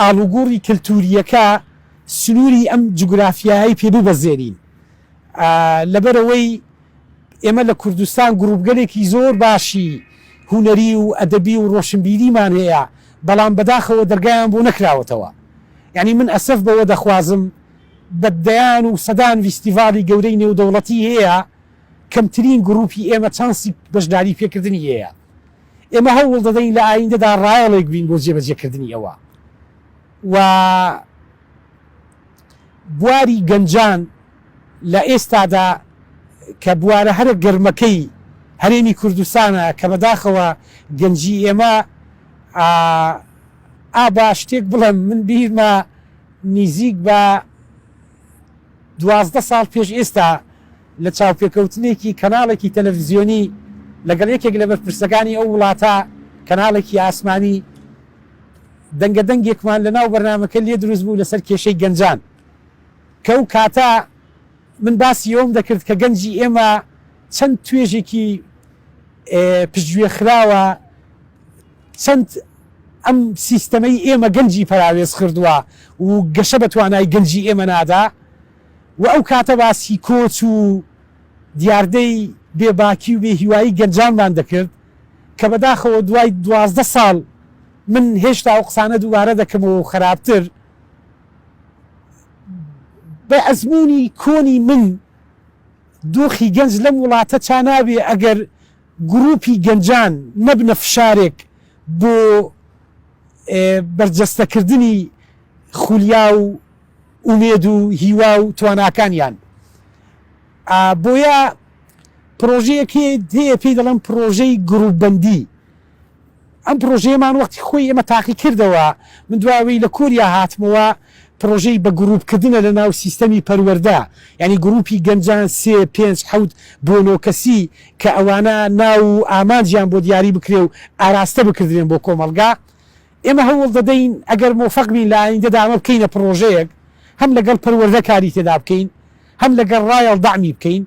ئاڵوگۆڕی کەلتورییەکە سنوری ئەم جوگرافیایەی پێ ببەزێنین لەبەرئەوەی ئێمە لە کوردستان گڕوپگەلێکی زۆر باشی هونەری و ئەدەبی و ڕۆشنبیریمان هەیە بەڵام بەداخەوە دەرگایان بۆ نەکراوەتەوە یانی من ئەسەف بەوە دەخوازم بە دەیان و سەدان ویستیڤاڵی گەورەی نێودەوڵەتی هەیە کەمترین گڕوپی ئێمە چانسی بەشداری پێکردنی هەیە. ئێمە هەوڵ دەدەین لە ئایندەدا ڕایەڵێک بین بۆ جێبەجێکردنی ئەوە و بواری گەنجان لە ئێستادا کە بوارە هەرە گەرمەکەی هەرێمی کوردستانە کە بەداخەوە گەنجی ئێمە ئا با شتێک بڵێم من بیرمە نیزیک بە دوازدە ساڵ پێش ئێستا لە چاوپێکەوتنێکی کەناڵێکی تەلەفزیۆنی لەگەڵ یەکێک لە بەرپرسەکانی ئەو وڵاتە، کەناڵێکی ئاسمانی، دەنگە دەنگێکمان لە ناو بەرنامەکە لێ دروست بوو لەسەر کێشەی گەنجان کە ئەو کاتە من باسی ئەوەم دەکرد کە گەنجی ئێمە چەند توێژێکی پشتگوێ خراوە چەند ئەم سیستەمەی ئێمە گەنجی پەراوێز خردوە و گەشە بە توانای گەنجی ئێمە نادا و ئەو کاتە باسی کۆچ و دیاردەی بێ باکی و بێ هیوایی گەنجانمان دەکرد کە بە داخەوە دوای دوازدە ساڵ من هێشتا ئەو قسانە دووبارە دەکەمەوە و خەراپتر بە ئەزموونی کۆنی من دۆخی گەنج لەم وڵاتە چا نابێ ئەگەر گروپی گەنجان نەبنە فشارێک بۆ بەرجەستەکردنی خولیا و ئومێد و هیوا و تواناکانیان بۆیە پرۆژەیەک هەیە پێی دەڵێن پرۆژەی گروپبەندی ئەم پرۆژەیەمان وەختی خۆی ئێمە تاقی کردەوە، من دوای ئەوەی لە کۆریا هاتمەوە پرۆژەی بە گرووپ کردنە لە ناو سیستەمی پەروەردە، یانی گرووپی گەنجان سێ، پێنج، حەوت بۆ نۆ کەسی کە ئەوانە ناو و ئامانجیان بۆ دیاری بکرێ و ئاراستە بکردرێن بۆ کۆمەڵگا، ئێمە هەوڵ دەدەین ئەگەر مۆفەق بین لە ئایندەدا ئەمە بکەینە پڕۆژەیەک هەم لەگەڵ پەروەردە کاری تێدا بکەین هەم لەگەڵ ڕایەڵ دەعمی بکەین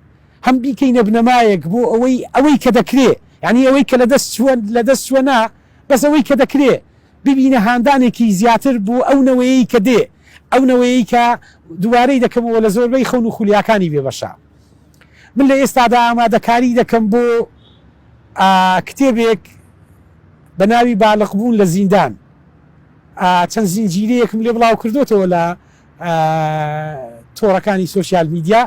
هەم بیکەینە بنەمایەک بۆ ئەوەی ئەوەی کە دەکرێ یانی ئەوەی کە لەدەست چووە لەدەست چووە نا بەس ئەوەی کە دەکرێ ببینە هاندانێکی زیاتر بۆ ئەو نەوەیەی کە دێ ئەو نەوەیەی کە دووبارەی دەکەمەوە لە زۆربەی خەون و خولیاکانی بێبەشە. من لە ئێستادا ئامادەکاری دەکەم بۆ کتێبێک بە ناوی بالغبوون لە زیندان چەند زنجیرەیەکم لێ بڵاو کردوتەوە لە تۆڕەکانی سوسیال میدیا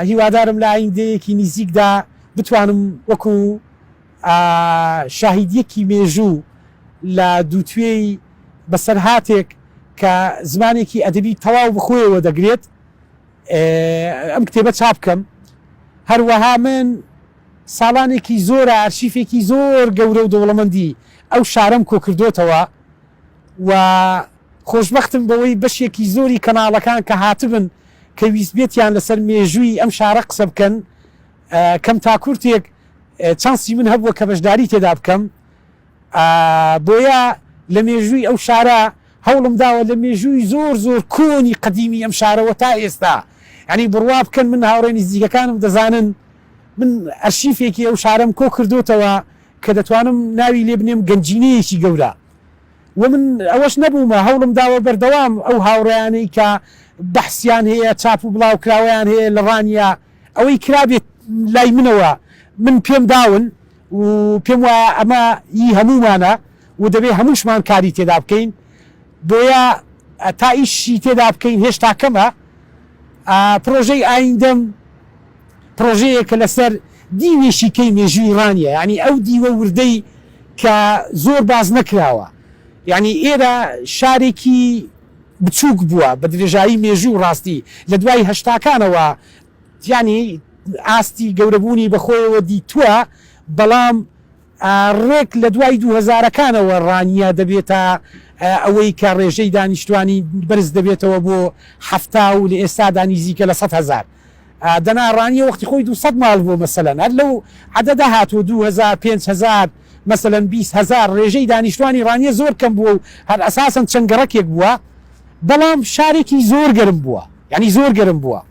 هیوادارم لە ئایندەیەکی نزیکدا بتوانم وەکو شاهیدیەکی مێژوو لە دووتێی بەسەرهاتێک کە زمانێکی ئەدەبی تەواو بخۆیەوە دەگرێت ئەم کتێبە چاپ کەم هەروەها من ساڵانێکی زۆرە ئەرشیفێکی زۆر گەورە و دەوڵەمەندی ئەو شارەم کۆکردوتەوە و خۆشببختم بەوەی بەشێکی زۆری کەناڵەکان کە هاتبن کە ویستبێتیان لەسەر مێژووی ئەم شارە قسە بکەن کەم تاکورتێک چانسی من هەبووە کە بەشداری تێدا بکەم بۆیە لە مێژووی ئەو شارە هەوڵم داوە لە مێژووی زۆر زۆر کۆنی قەدیمی ئەم شارەوە تا ئێستا یعنی بڕوا بکەن من هاوڕێ نزیکەکانم دەزانن من ئەرشیفێکی ئەو شارەم کۆ کردوتەوە کە دەتوانم ناوی لێ بنێم گەنجینەیەکی گەورە و من ئەوەش نەبوومە هەوڵم داوە بەردەوام ئەو هاوڕیانەی کە بەحسیان هەیە چاپ و بڵاو کراوەیان هەیە لە ڕانیە ئەوەی کرابێت لای منەوە من پێم داون و پێم وایە ئەمە ی هەموومانە و دەبێ هەمووشمان کاری تێدا بکەین بۆیە تا ئیشی تێدا بکەین هێشتا کەمە پڕۆژەی ئایندەم پڕۆژەیە کە لەسەر دیوێکی کەی مێژووی ڕانیە یانی ئەو دیوە وردەی کە زۆر باس نەکراوە یانی ئێرە شارێکی بچووک بووە بە درێژایی مێژوو ڕاستی لە دوای هەشتاکانەوە یانی ئاستی گەورەبوونی بەخۆیەوە دیتووە، بەڵام ڕێک لە دوای دوو هەزارەکانەوە ڕانیە دەبێتە ئەوەی کە ڕێژەی دانیشتوانی بەرز دەبێتەوە بۆ حەفتا و لە ئێستادا نیزیکە لە سەد هەزار دەنا ڕانیە وەختی خۆی دوو سەد ماڵ بووە مەسەلەن هەر لەو عەدەدە هاتووە دوو هەزار پێنج هەزار مەسەلەن بیست هەزار ڕێژەی دانیشتوانی ڕانیە زۆر کەم بووە و هەر ئەساسەن چەند گەڕەکێک بووە بەڵام شارێکی زۆر گەرم بووە یانی زۆر گەرم بووە.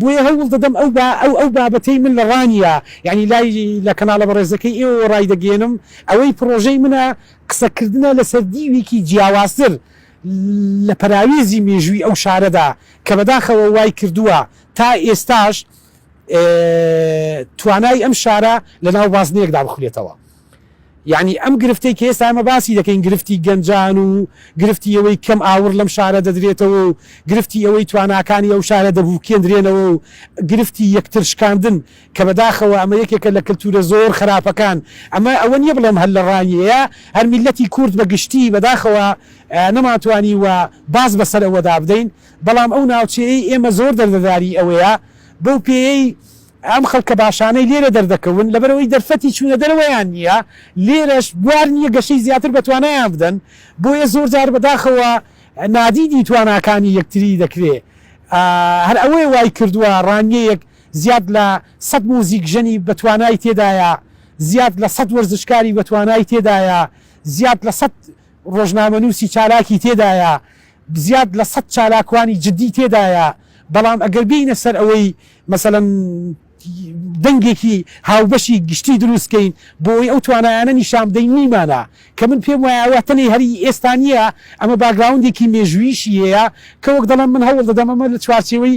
بۆیە هەوڵ دەدەم ئەو با ئەو ئەو بابەتەی من لە ڕانیە یانی لای لە کەناڵە بەڕێزەکەی ئێوەوە ڕایدەگەیەنم ئەوەی پڕۆژەی منە قسە کردنە لە سەر دیوێکی جیاوازتر لە پەراوێزی مێژووی ئەو شارەدا کە بەداخەوە وای کردووە تا ئێستاش توانای ئەم شارە لە ناو بازنەیەکدا بخولێتەوە. یەعنی ئەم گرفتەی کە ئێستا ئێمە باسی دەکەین گرفتی گەنجان و گرفتی ئەوەی کەم ئاوڕ لەم شارە دەدرێتەوە و گرفتی ئەوەی تواناکانی ئەو شارە دەبوکێندرێنەوە و گرفتی یەکتر شکاندن کە بەداخەوە ئەمە یەکێکە لە کەلتورە زۆر خەراپەکان ئەمە ئەوە نیە بڵێم هەر لە ڕای ئێە هەر میللەتی کورد بە گشتی بەداخەوە نەمانتوانیوە باز بەسەر ئەوەدا بدەین بەڵام ئەو ناوچەیەی ئێمە زۆر دەردەداری ئەوەیە بەو پێیەی ئەم خەڵکە باشانەی لێرە دەردەکەون لەبەرئەوەی دەرفەتی چوونە دەرەوەیان نییە، لێرەش بوار نییە گەشەی زیاتر بە توانایان بدەن، بۆیە زۆر جار بەداخەوە نادیدی تواناکانی یەکتری دەکرێ. هەر ئەوەیە وای کردووە ڕانیەیەک زیاد لە سەد مۆزیکژەنی بە توانای تێدایە، زیاد لە سەد وەرزشکاری بە توانای تێدایە، زیاد لە سەد ڕۆژنامەنووسی چالاکی تێدایە، زیاد لە سەد چالاکوانی جدی تێدایە، بەڵام ئەگەر بێینە سەر ئەوەی مەسەلەن دەنگێکی هاوبەشی گشتی دروست کەین بۆ ئەوەی ئەو توانایانە نیشان بدەین نیمانە، کە من پێم وایە ئەوە تەنێ هەر هی ئێستا نییە، ئەمە باکگراوندێکی مێژووییشی هەیە، کە وەک دەڵێم من هەوڵ دەدەم ئەمە لە چوارچێوەی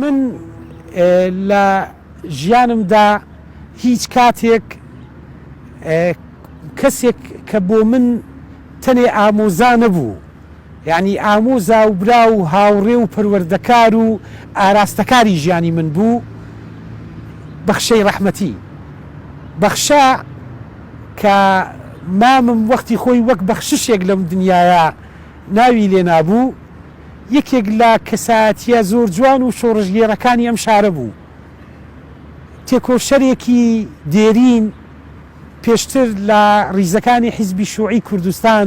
من لە ژیانمدا هیچ کاتێک کەسێک کە بۆ من تەنێ ئامۆزا نەبوو یانی ئامۆزا و برا و هاوڕێ و پەروەردەکار و ئاراستەکاری ژیانی من بوو بەخشەی ڕەحمەتی. بەخشە کە مامم وەختی خۆی وەک بەخششێک لەم دنیایە ناوی لێ نابوو، یەکێک لە کەسایەتییە زۆر جوان و شۆڕشگێڕەکانی ئەم شارە بوو. تێکۆشەرێکی دێرین پێشتر لە ڕیزەکانی حیزبی شوعی کوردستان،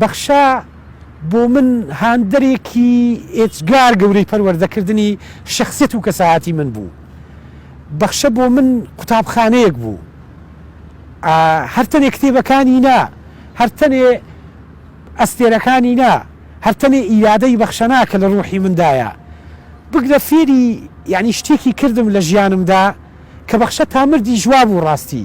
بەخشە بۆ من هاندەرێکی ئێجگار گەورەی پەروەردەکردنی شەخسیەت و کەسایەتی من بوو. بەخشە بۆ من قوتابخانەیەک بوو. هەر تەنێ کتێبەکانی نا، هەر تەنێ ئەستێرەکانی نا، هەر تەنێ ئیرادەی بەخشە نا کە لە ڕووحی مندایە. بگرە فێری یەعنی شتێکی کردم لە ژیانمدا کە بەخشە تا مردیش وابوو ڕاستی.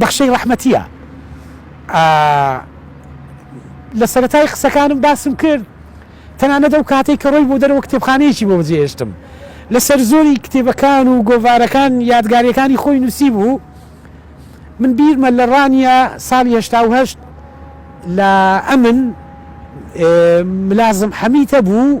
بەخشەی ڕەحمەتییە. ئا لە سەرەتای قسەکانم باسم کرد، تەنانەت ئەو کاتەی کە ڕۆیبوو دەرەوە کتێبخانەیەکی بۆ بەجێهێشتم. لە سەرزۆری کتێبەکان و گۆڤارەکان یادگارییەکانی خۆی نووسیبوو. من بیرمە لە ڕانیە ساڵی هەشتا و هەشت لە ئەمن ملازم حەمیت هەبوو،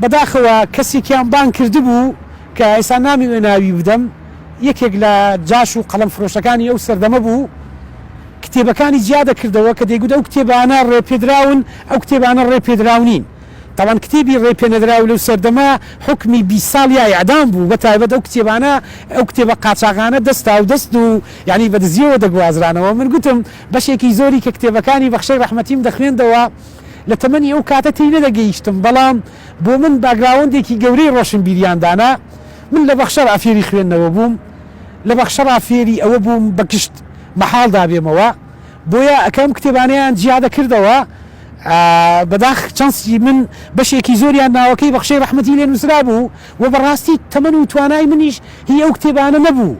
بەداخەوە کەسێکیان بانگ کردبوو کە ئێستا نامەوێ ناوی بدەم، یەکێک لە جاش و قەڵەم فرۆشەکانی ئەو سەردەمە بوو، کتێبەکانی جیا دەکردەوە کە دەیگوت ئەو کتێبانە ڕێ پێدراون، ئەو کتێبانە ڕێ پێدراو نین. تاوان کتێبی ڕێ پێنەدراو لەو سەردەمە حوکمی بیست ساڵ یا ئێعدام بوو، بە تایبەت ئەو کتێبانە، ئەو کتێبە قاچاغانە دەست هاودەست و یانی بە دزییەوە دەگوازرانەوە. من گوتم بەشێکی زۆری کە کتێبەکانی بەخشەی ڕەحمەتیم دەخوێندەوە، لە تەمەنی ئەو کاتە تێی نەدەگەیشتم، بەڵام بۆ من باگراوەندێکی گەورەی ڕۆشنبیریان دانا. من لە بەخشەڕا فێری خوێندنەوە بووم، لە بەخشەڕا فێری ئەوە بووم بە گشت مەحاڵدا بێمەوە، بۆیە کە ئەم کتێبانەیان جیا دەکردەوە، بەداخ چەنسی من بەشێکی زۆریان ناوەکەی بەخشەی ڕەحمەتی لێ نووسرابوو و بەڕاستی تەمەن و توانای منیش هی ئەو کتێبانە نەبوو.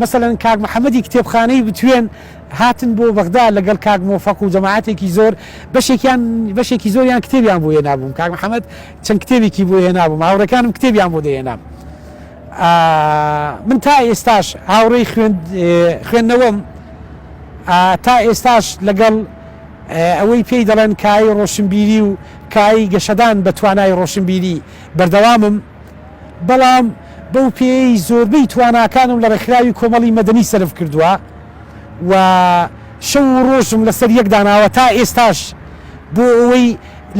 مەسەلەن کاک محەمەدی کتێبخانەی بتوێن هاتن بۆ بەغدا لەگەڵ کاک مۆفەق و جەماعەتێکی زۆر بەشێکیان بەشێکی زۆریان کتێبیان بۆ هێنابووم کاک محەمەد چەند کتێبێکی بۆ هێنابووم هاوڕێکانم کتێبیان بۆ دەهێنام من تا ئێستاش هاوڕێی خوێندنەوەم تا ئێستاش لەگەڵ ئەوەی پێی دەڵێن کای ڕۆشنبیری و کای گەشەدان بە توانای ڕۆشنبیری بەردەوامم بەڵام بەو پێیەی زۆربەی تواناکانم لە ڕێکخراوی کۆمەڵی مەدەنی سەرف کردووە و شەو و ڕۆژم لەسەر یەک داناوە تا ئێستاش بۆ ئەوەی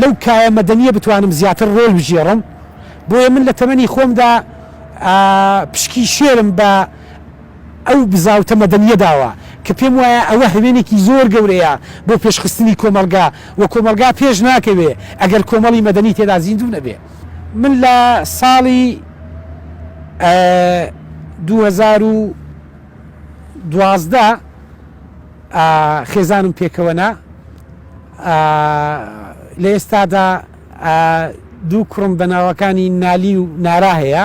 لەو کایە مەدەنییە بتوانم زیاتر ڕۆڵ بگێڕم، بۆیە من لە تەمەنی خۆمدا پشکی شێرم بە ئەو بزاوتە مەدەنییە داوە کە پێم وایە ئەوە هەوێنێکی زۆر گەورەیە بۆ پێشخستنی کۆمەڵگا و کۆمەڵگا پێش ناکەوێ ئەگەر کۆمەڵی مەدەنی تێدا زیندوو نەبێ. من لە ساڵی دوو هەزار و دوازدە خێزانم پێکەوە نا لە ئێستادا دوو کوڕم بە ناوەکانی نالی و نارا هەیە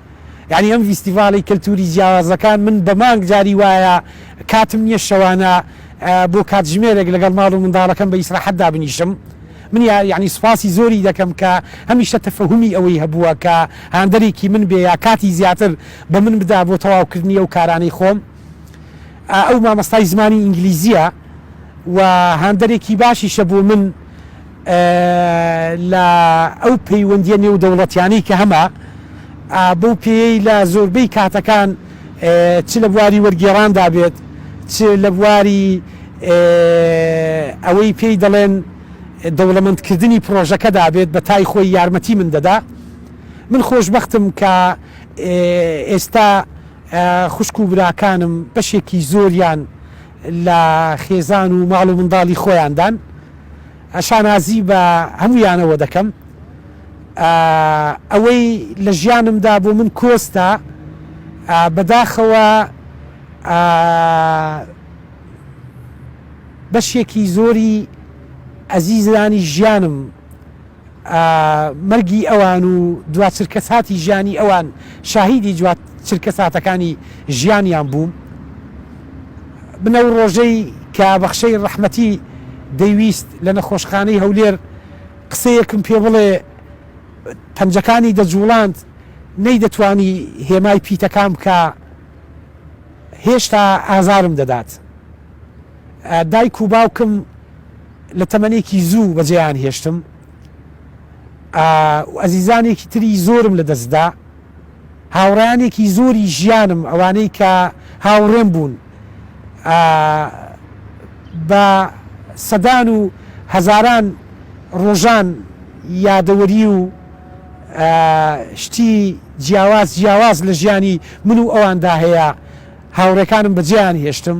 یانی ئەم ڤیستیڤاڵی کەلتوری جیاوازەکان من بە مانگ جاری وایە کاتم نیە شەوانە بۆ کاتژمێرێک لەگەڵ ماڵ و منداڵەکەم بە ئیسراحەت دابنیشم من یانی سوپاسی زۆری دەکەم کە هەمیشە تەفەهومی ئەوەی هەبووە کە هاندەرێکی من بێ یا کاتی زیاتر بە من بدا بۆ تەواوکردنی ئەو کارانەی خۆم ئەو مامۆستای زمانی ئینگلیزیە و هاندەرێکی باشیشە بۆ من لە ئەو پەیوەندییە نێودەوڵەتیانەی کە هەمە، بەو پێیەی لە زۆربەی کاتەکان چ لە بواری وەرگێڕاندا بێت، چ لە بواری ئەوەی پێی دەڵێن دەوڵەمەندکردنی پڕۆژەکەدا بێت، بە تای خۆی یارمەتی من دەدا. من خۆشبەختم کە ئێستا خوشک و براکانم بەشێکی زۆریان، لە خێزان و ماڵ و منداڵی خۆیاندان شانازی بە هەموویانەوە دەکەم ئەوەی لە ژیانمدا بۆ من کۆستە بەداخەوە بەشێکی زۆری ئەزیزانی ژیانم مەرگی ئەوان و دوا چرکەساتی ژیانی ئەوان شاهیدی دوا چرکەساتەکانی ژیانیان بووم من ئەو ڕۆژەی کە بەخشەی ڕەحمەتی دەیویست لە نەخۆشخانەی هەولێر قسەیەکم پێ بڵێ پەنجەکانی دەجوڵاند نەیدەتوانی هێمای پیتەکان بکا هێشتا ئازارم دەدات دایک و باوکم لە تەمەنێکی زوو بەجێیان هێشتم و ئەزیزانێکی تری زۆرم لە دەست دا. هاوڕێیانێکی زۆری ژیانم، ئەوانەی کە هاوڕێم بوون، بە سەدان و هەزاران ڕۆژان یادەوەری و شتی جیاواز جیاواز لە ژیانی من و ئەواندا هەیە، هاوڕێکانم بەجێیان هێشتم.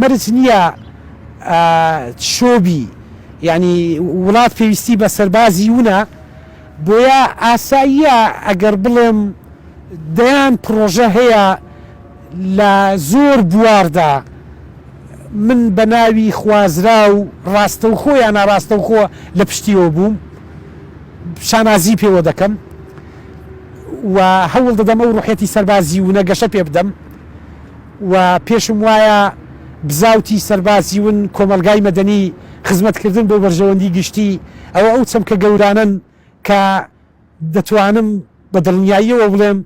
مەرج نیە چۆبی یانی وڵات پێویستی بە سەربازی ونە بۆیە ئاساییە ئەگەر بڵێم دەیان پڕۆژە هەیە لە زۆر بواردا من بە ناوی خوازراو ڕاستەوخۆ یا ناڕاستەوخۆ لە پشتیەوە بووم شانازی پێوە دەکەم و هەوڵ دەدەم ئەو ڕوحیەتی سەربازی ونە گەشە پێ بدەم و پێشم وایە بزاوتی سەربازی ون کۆمەڵگای مەدەنی خزمەت کردن بۆ بەرژەوەندی گشتی ئەوە ئەو چەمکە گەورانەن کە دەتوانم بە دڵنیاییەوە بڵێم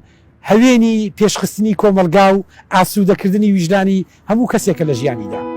هەوێنی پێشخستنی کۆمەڵگا و ئاسوودە کردنی ویژدانی هەموو کەسێکە لە ژیانیدا.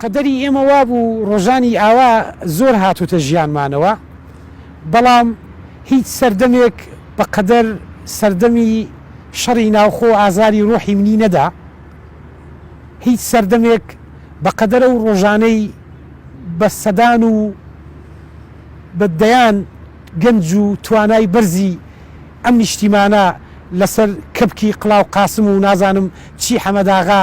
قەدەری ئێمە وابوو ڕۆژانی ئاوا زۆر هاتووتە ژیانمانەوە، بەڵام هیچ سەردەمێک بە قەدەر سەردەمی شەڕی ناوخۆ ئازاری ڕۆحی منی نەدا، هیچ سەردەمێک بە قەدەر ئەو ڕۆژانەی بە سەدان و بە دەیان گەنج و توانای بەرزی ئەم نیشتیمانە لەسەر کەپکی قلاو قاسم و نازانم چی حەمەداغا،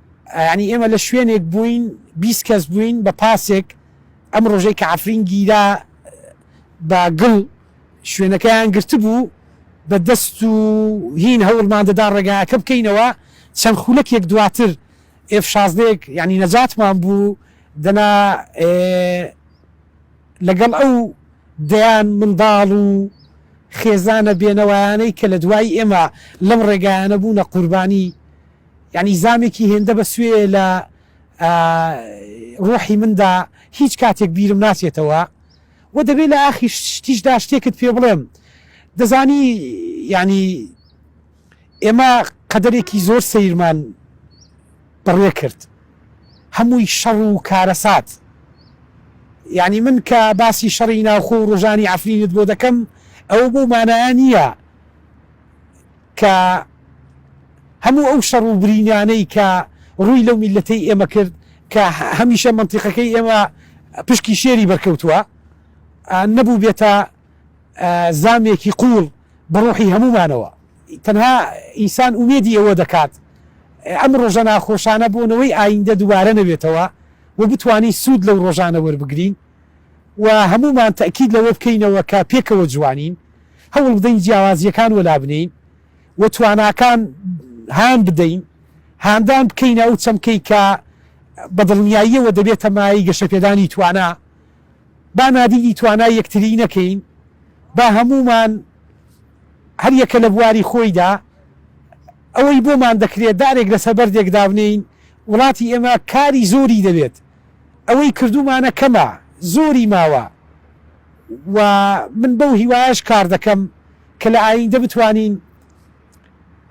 یانی ئێمە لە شوێنێک بووین بیست کەس بووین بە پاسێک ئەم ڕۆژەی کە عەفرین گیرا بە گڵ شوێنەکەیان گرتبوو بە دەست و هین هەوڵمان دەدا ڕێگاکە بکەینەوە چەند خولەکێک دواتر ئێف شازدەیەک یانی نەجاتمان بوو دەنا لەگەڵ ئەو دەیان منداڵ و خێزانە بێنەوەیانەی کە لە دوای ئێمە لەم ڕێگایانە بوونە قوربانی یانی زامێکی هێندە بە سوێیە لە ڕۆحی مندا هیچ کاتێک بیرم ناچێتەوە و دەبێ لە ئاخی شتیشدا شتێکت پێ بڵێم دەزانی یانی ئێمە قەدەرێکی زۆر سەیرمان بڕێ کرد هەمووی شەڕ و کارەسات یعنی من کە باسی شەڕی ناوخۆ و ڕژانی ئەفرینت بۆ دەکەم ئەو بۆ مانایە نییە کە هەموو ئەو شەڕ و برینانەی کە ڕووی لەو میللەتەی ئێمە کرد کە هەمیشە مەنتیقەکەی ئێمە پشکی شێری بەرکەوتووە نەبووبێتە زامێکی قووڵ بە ڕۆحی هەموومانەوە تەنها ئینسان ئومێدی ئەوە دەکات ئەم ڕۆژە ناخۆشانە بۆ نەوەی ئایندە دووبارە نەبێتەوە و بتوانین سوود لەو ڕۆژانە وەربگرین و هەموومان تەئکید لەوە بکەینەوە کە پێکەوە جوانین، هەوڵ بدەین جیاوازییەکان وەلا بنێین و تواناکان هان بدەین، هاندان بکەینە ئەو چەمکەی کە بە دڵنیاییەوە دەبێتە مایەی گەشەپێدانی توانا، با نادیدی توانای یەکتری نەکەین، با هەموومان هەر یەکە لە بواری خۆیدا ئەوەی بۆمان دەکرێت دارێک لەسەر بەردێک دابنێین، وڵاتی ئێمە کاری زۆری دەوێت. ئەوەی کردوومانە کەمە زۆری ماوە و من بەو هیوایەش کار دەکەم کە لە ئاییندە بتوانین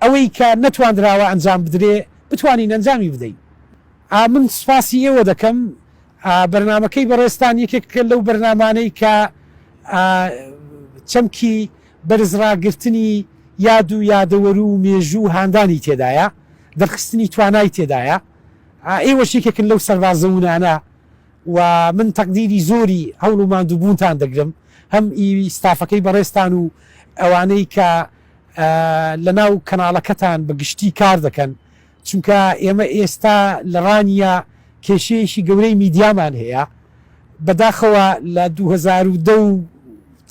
ئەوەی کە نەتواندراوە ئەنجام بدرێ بتوانین ئەنجامی بدەین. من سوپاسی ئێوە دەکەم. بەرنامەکەی بەڕێزتان یەکێکە لەو بەرنامانەی کە چەمکی بەرز ڕاگرتنی یاد و یادەوەرو و مێژوو و هاندانی تێدایە، دەرخستنی توانای تێدایە. ئێوەش یەکێکن لەو سەربازە وونانە و من تەقدیری زۆری هەوڵ و ماندووبوونتان دەگرم هەم ئی ستافەکەی بەڕێزتان و ئەوانەی کە لە ناو کەناڵەکەتان بە گشتی کار دەکەن چونکە ئێمە ئێستا لە ڕانیە کێشەیەکی گەورەی میدیامان هەیە بەداخەوە لە دوو هەزار و دە و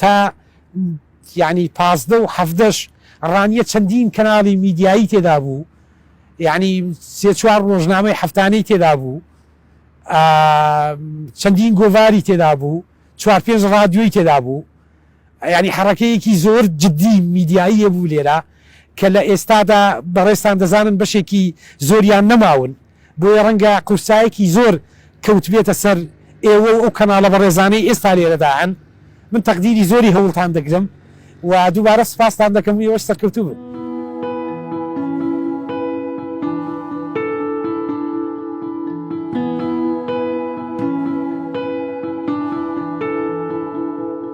تا یانی پازدە و حەڤدەش ڕانیە چەندین کەناڵی میدیایی تێدا بوو یانی سێ چوار ڕۆژنامەی هەفتانەی تێدا بوو چەندین گۆڤاری تێدا بوو چوار پێنج ڕادیۆی تێدا بوو یانی حەڕەکەیەکی زۆر جددی میدیایی بوو لێرە کە لە ئێستادا بەڕێستان دەزانن بەشێکی زۆریان نەماون بۆیە ڕەنگە قورسایەکی زۆر کەوتبێتە سەر ئێوە و ئەو کەناڵە بەڕێزانەی ئێستا لێرەدا هەن، من تەقدیری زۆری هەوڵتان دەگرم و دووبارە سوپاستان دەکەم و ئێوەش سەرکەوتوو بن.